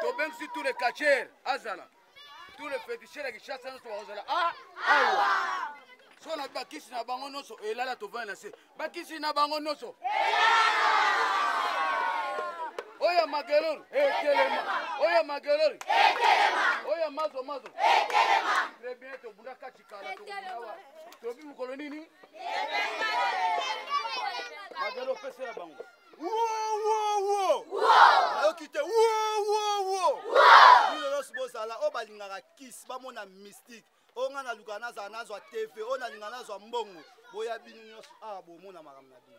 tobengisi tous les catcheurs azala tous les féticheurs ya kishasa nyonso bakozala a awa so na bakisi na bango nyonso elala tovandi na se bakisi na bango nyonso oyo magelori etelema oyo magelori oyo mazo mazo très bien tobunda kati kala tokobunawa tobi mokolo nini magelo opesela bango nayoki te bilolos bozala oyo balingaka kis bamona mystique oyo ngai naluka nazala nazwa tv oyo nalinga nazwa mbongo boya bino nyonso awa ah, bomona makambo na bino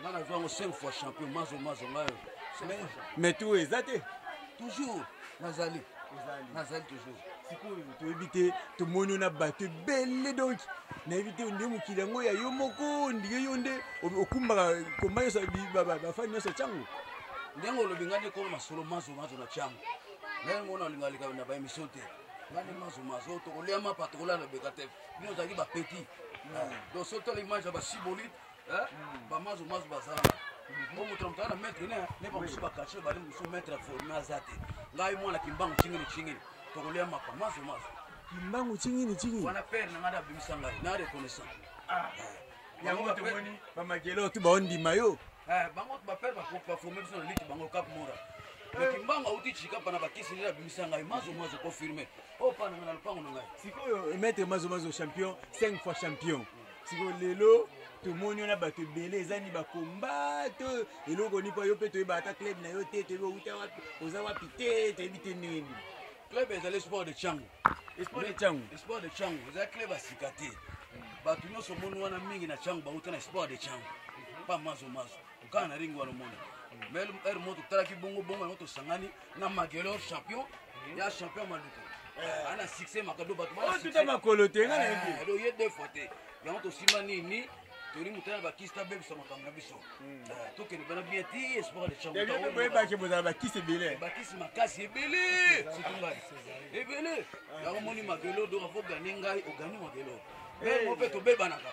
nga nazwa yango 5 fois champion mazo mazo ngayo mais tu oyo eza te toujours nazali nazali toujours sikoyo toyebi te tomoni yo na bato ebele donk nayebi te nde mokili yango ya yo moko ndike yo nde okumbaka komba nyonso bafani nyonso ya cango ndenge olobi ngai nde kolo masolo mazo mazo na cango ngai mona olinga leka na baémission te ngai nde mazo mazo tokolia mapa tokolala beka te bino ozalaki bapeti hmm. donc soki tala image ya basibolite eh? hmm. bamazo mazo bazala hmm. o moto na moto aza na maître ne ne bamosusu bakache bali mosusu maître forme aza te ngai mwana kimbangu cingini cingini tokolia mapa mazo mazo kimbangu cingini cingini wana pere na ngai da abimisa ngai na reconnaissant ah. eh. yango tomoni bamagelo tu baondima yo eh, bango bapere baforme biso na liti bango kap mora kimbangu auti chikapa na bakisi nde abimisa ngai mazo mazo confirme opananga na lopango na ngai sikoyo maître mazo mazo champion 5 fois champion siko lelo tomoni wana bato ebele eza ni bakomba to eloko ni mpo yo mpe toyeba ata club na yo te toyebi outa wapi oza wapi te toyebi te ndenge nini club ezali sport de chango sport de chango sport de chango eza club asika te bato nyonso omoni wana mingi na chango bauta na sport de chango pa mazo mazo tokana na ringi wana omona mais heure moko totalaki bongo bongo yango tosangani na magelor champion ya champion maluku eh. ana succès makado bato batuta oh, makolo te nga nayebi eh, donc ye deux fois te yango tosima nini toli motala bakisi tabebisa makambo na biso hmm. eh, tokende bana bien ti espoir de chamboyebaki bozala bakisi ebele bakisi makasi ebele surtout ngai ebele yango moni magelor donc afo gane ngai ogani magelor mpe tobebanaka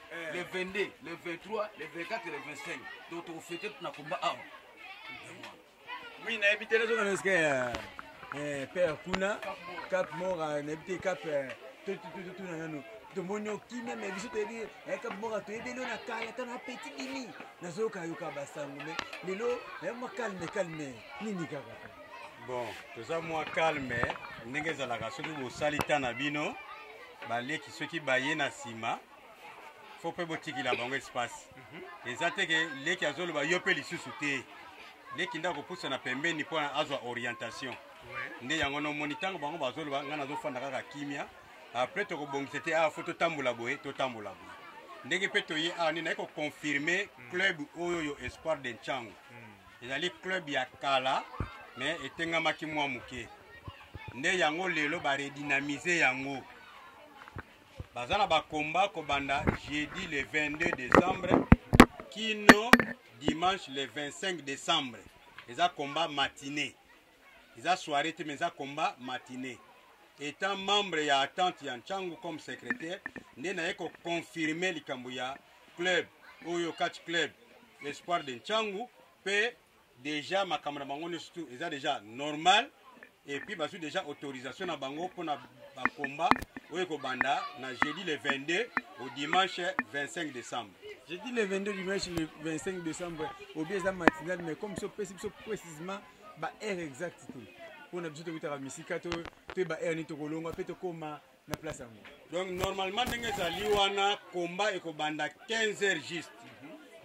eh. le 22 le 23 le 24 le 25 donc tokofete na komba awa oui nayebi te nazoka na eske père kuna cap mor nayebi te cap totuna nano tomoni okimia me biso toyebi cap mor toyebi elo na kala ata na petit dimi nazoyokayoka basango me lelo naye mwa calme calme nini kaka bon toza mwa calme ndenge ezalaka soki bosali ntan na bino baleki soki baye na nsima fo mpe botikila bango espace mhm. eza te ke leki azoloba yo mpe lisusu te leki nde akopusana pembeni mpo azwa orientation nde yango nomoni ntango bango bazoloba ngai nazofanda kaka kimia apres tokobongisa te awa ah, fo totambola boye totambola boye ndenge mpe toye awa ah, nde naye koconfirme mm. club oyo yo espoir de ncango mm. ezali club ya kala me etengamaki mwa moke nde yango lelo baredinamize yango baza na bakomba kobanda jeudi le 22 décembre kino dimanche le 25 décembre eza komba matinée eza soirée te mais eza komba matinée étant membre ya attente ya ncangu comme secrétaire nde naye koconfirme likambo ya club oyo catch club espoir de ncangu mpe deja makambo na bango nyonso tu eza deja normal et puis bazwi deja autorisation na bango mpo na bakomba oyo ekobanda na jeudi le 22 au dimanche 25 décembre jeudi le 22 dimanche le 25 décembre obi eza matinal mais comme biso pesi biso précisement baheure exacte te mpo na biso tokutaka misika to toyeba heure nini tokolonga mpe tokóma na place yango donc normalement ndenge ezali wana combat ekobanda 15 heures juste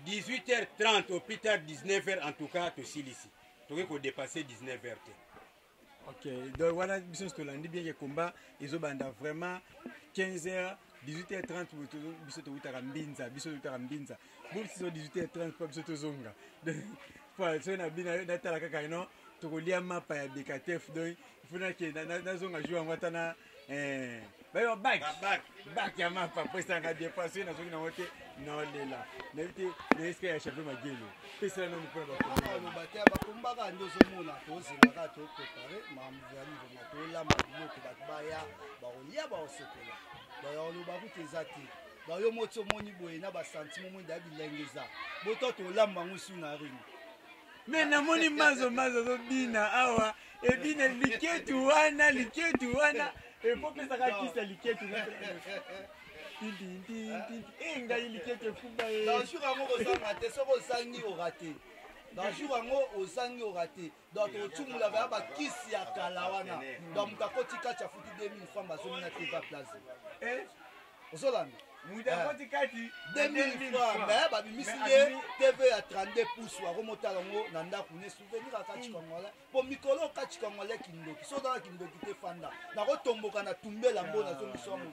18 heures 30 au plus tard 19 heures en tout cas tosilisi tokoki kodepasse 19 heures te ok donc wana biso nyonso tolandi bien ke combat ezobanda vraiment 15 heures 18h30 biso towutaka mbinza biso towutaka mbinza bobsi no 18h30 mpo biso tozonga mpo soki na bino natala kaka ino tokolia mapa ya bekatef donc ifo nakenda nazonga jour yango ata na eh, bayo bak bak ya mapa mpo esanga bien mpo soki nazoki nango te naolela nayebi te nayeska ya chape magelo pesela nano mpona bakomba te bakombaka nde ozomona tozelaka toprepare mambo ya livoma tolamba biloko bato baya bakolia bakosokola bayakoloba kutu eza te ba yo moti omoni boye na ba sentiment omoni da bilengeza boto tolamba yango su na ring me namoni mazo mazo azobina awa ebina liketu wana liketu wana epopesaka kisa liketu e ngai liketu efumba ye eh. dans jour yango kozanga te soki ozangi orate dans jour yango ozangi orate donc tokotumula baya bakisi ya kala wana donc moto akoti kati afuti 2000 franc bazongi na teva place eh? ozolanda mutu eh. akoti kati 2000 franc me eh, babimisi ye tv ya 32 pouce wakomotala yango na ndako ne souvenir akati hmm. kangole mpo mikolo okati kangole kindoki so ozala kindoki te fanda nakotomboka na tumbela mbo ah, nazongiso yango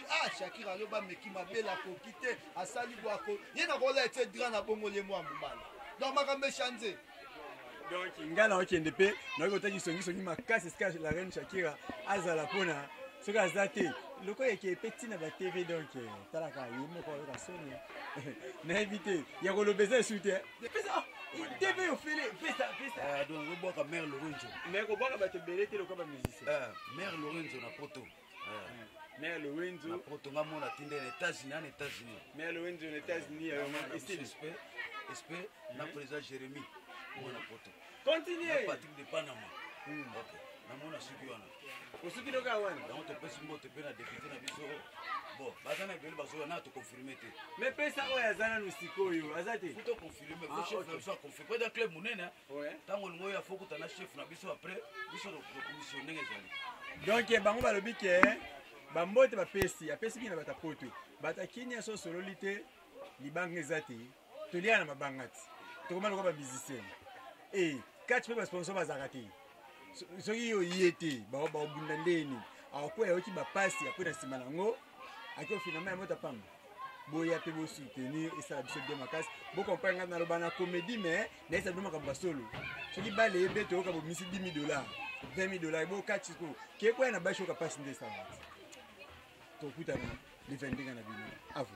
ah shakira aloba ameki mabele akoki te asali bwako ye nakola ete dra na bongo ye mwa mobala donc makambo echange donc ngai naokende mpe naoki kotaki songisongi makasi esika la reine shakira azala mpona soki aza te lokola eke mpe ntina ba tv donc eh, talaka ye moko ayoka soni nayebi te ya koloba eza esu te ah, tv ofele pesapesabwaka eh, mare lorenzo me kobwaka bato ebele te lokola bamusicien eh, mare lorenzo na poto mais le wenzo na poto nga mona tinda na États-Unis en États-Unis mais le wenzo na États-Unis ya ma ici respect respect na président Jérémy mona poto continuer Patrick de Panama hmm. okay namona suki wana osuki loka wana yango topesi mbote mpe na depute na biso bon baza na ebele bazoya na toconfirme te mais pesa oyo aza nanu sikoyo aza te toconfirme po ah, chef na biso aconfirme po eza club monene ntango olingi oyo afo okuta na chef na biso après biso tokomisio ndenge ezali donk eh, bango balobi ke eh, bambote bapesi apesi bino na bato ya poto bato ya kinia so osololi te libanga eza te toliaka na mabanga ti tokoma lokola bamusicien e eh, kati mpe basponsor bazalaka te soki yo ye te baobunda ndeni akokuwa yayoki bapasi akwei na nsima na yango ake ofinama ya mota pamba boya mpe bosoutenir esala biso bien makasi bokomprendre ngai naloba na comédie mais nayesa bino makambo ya solo soki bale ebete oyoka bomisi 10 dollars 20 dollars bokati ko kekwaya na bashi oyoka mpasi nde esangati tokutana le 22 na bino avo